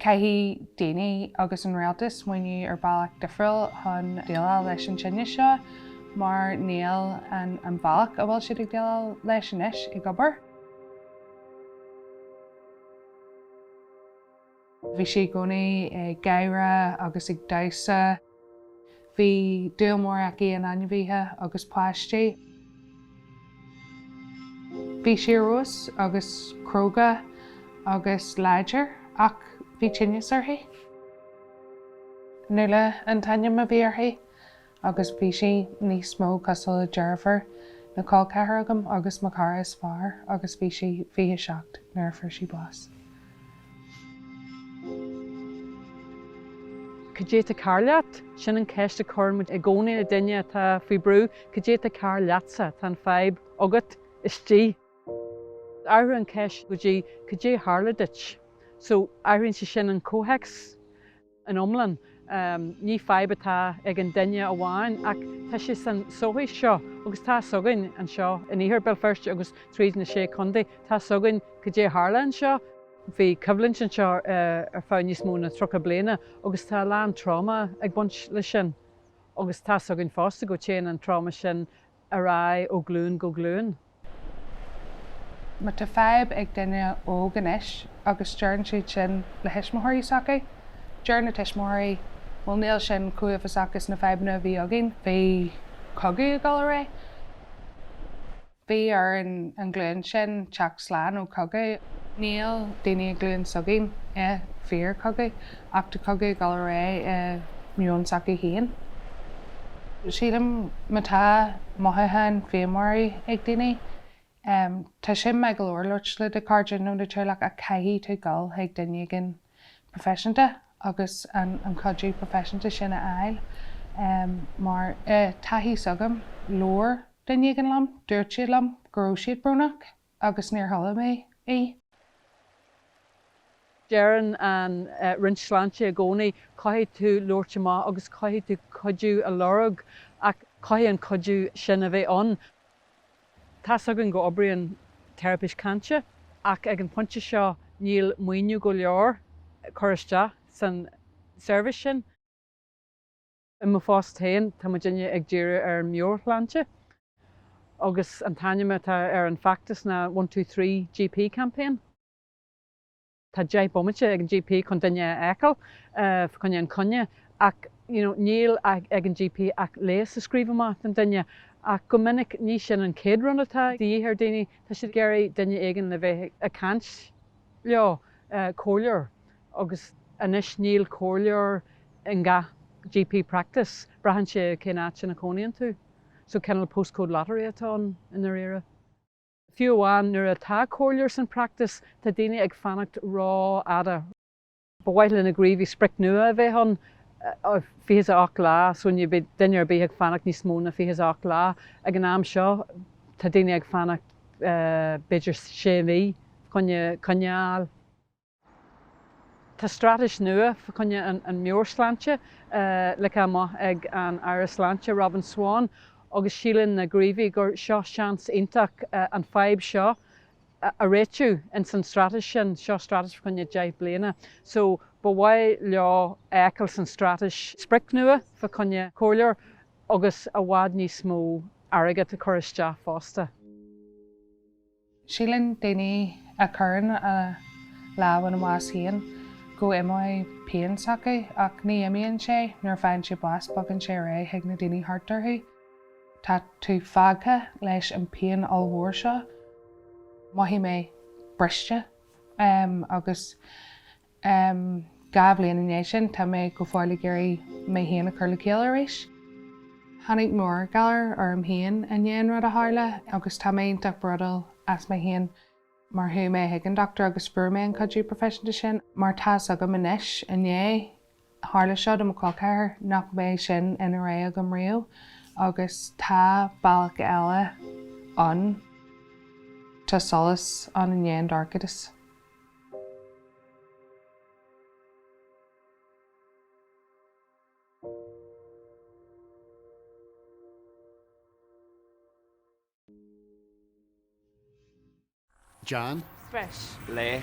Caithfidh daoine agus an Rialtas smaoineamh ar bhealach difriúil chun déileáil leis an fhadhb seo mar níl an bealach a bhfuil siad ag déileáil leis anois ag obair. Bhí sí i gcónaí ag gáire agus ag damhsa. Bhí dúil mhór aici in ainmhithe agus páistí. Bhí sí uathúil agus cróga agus láidir ach bhí tinneas uirthi. Nuala an t-ainm a bhí uirthi agus bhí sí níos mó cosúil le deirfiúr nó colceathar agam agus mo chara is fearr agus bhí sí 27 nuair a fuair sí bás. Cad é atá cearr leat? Sin an cheist a chuireann muid i gcónaí le duine atá faoi bhrú. Cad é atá cearr leatsa? Tá an fadhb agat, istigh. Athraigh an cheist go dtí Cad é a tharla duit? So, athraíonn sé sin an comhthéacs. in iomlán. Ní fadhb atá ag an duine amháin ach tá sé san sochaí seo agus tá fhios againn anseo in Iarthar Béal Feirste agus tríd na Sé Chontae, tá fhios againn cad é a tharla anseo. Bhí coimhlint anseo ar feadh níos mó ná tríocha bliana agus tá a lán tráma ag baint leis sin agus tá fhios againn fosta go téann an tráma sin ar aghaidh ó ghlúin go glúin. Má tá fadhb ag duine óg anois agus deireann siad sin le thuismitheoirí s'acu, deir na tuismitheoirí, bhuel níl sin chomh uafásach is na fadhbanna a bhí againn, bhí cogadh ag dul ar aghaidh, bhí ar an ghlúin sin teacht slán ó chogadh. Níl daoine i nglúin s'againn i bhfíor-chogadh. Ach tá cogadh ag dul ar aghaidh i meon s'acu féin, sílim. Má tá mothúcháin féinmharaí ag daoine, tá sin maith go leor labhairt le do chairde nó do theaghlach ach caithfidh tú dul chuig duine éigin proifisiúnta agus an cuidiú proifisiúnta sin a fháil. Mar, i dtaithí s'agam, labhair duine éigin liom, dúirt siad liom go raibh siad brónach. agus níor chuala mé í. Deireann an Roinn Sláinte i gcónaí, caithfidh tú labhairt amach agus caithfidh tú cuidiú a lorg ach caithfidh an cuidiú sin a bheith ann. Tá's againn go n-oibríonn teiripí cainte ach ag an phointe seo níl maoiniú go leor cur isteach san seirbhís sin. I mo phost féin, tá muid inniu ag díriú ar an meabhairshláinte agus an t-ainm atá ar an feachtas ná One Two Three GP Campaign. Tá deich bomaite ag an GP chun duine a fheiceáil fá choinne an coinne ach you know níl ag an GP ach leigheas a scríobh amach don duine ach go minic ní sin an chéad rud atá de dhíth ar daoine, tá siad ag iarraidh duine éigin le bheith ag caint leo, comhairleoir. agus anois níl comhairleoir i ngach GP practice, braitheann sé cén áit ina chónaíonn tú. So cineál postcode lottery atá ann i ndáiríre. Fiú amháin nuair atá comhairleoir san practice, tá daoine ag fanacht ró-fhada, ba mhaith le na gníomhaithe sprioc nua a bheith ann, 28 lá, so ní bheidh duine ar bith ag fanacht níos mó ná 28 lá. Ag an am seo tá daoine ag fanacht b'fhéidir 6 mhí fá choinne coinne a fháil. Tá straitéis nua fá choinne an meabhairshláinte ligthe amach ag an Aire Sláinte, Robin Swann, agus síleann na gníomhaithe gur seo seans iontach an fadhb seo a réitiú ins an straitéis sin. Seo straitéis fá choinne deich bliana so ba mhaith leo a fheiceáil san straitéis sprioc nua fá choinne comhairleoir agus i bhfad níos mó airgead a chur isteach fosta. Síleann daoine a chuireann a lámh ina mbás féin go n-imeoidh pian s'acu, ach ní imíonn sé, nuair a faigheann siad bás bogann sé ar aghaidh chuig na daoine thart orthu. Tá tú fágtha leis an bpian ollmhór seo. Mhothaigh mé briste agus Dhá bhliain i ndiaidh sin, tá mé go fóill ag iarraidh mé féin a chur le chéile arís. Tháinig meabhairghalar orm féin i ndiaidh an rud a tharla agus tá mé iontach bródúil as mé féin mar chuaigh mé chuig an dochtúir agus fuair mé an cuidiú proifisiúnta sin mar tá's agam anois, i ndiaidh Tharla seo do mo chol ceathar nach mbeidh sin ina rogha agam riamh agus tá bealach eile ann. Tá solas ann i ndiaidh an dorchadas. John. Breis. Lae.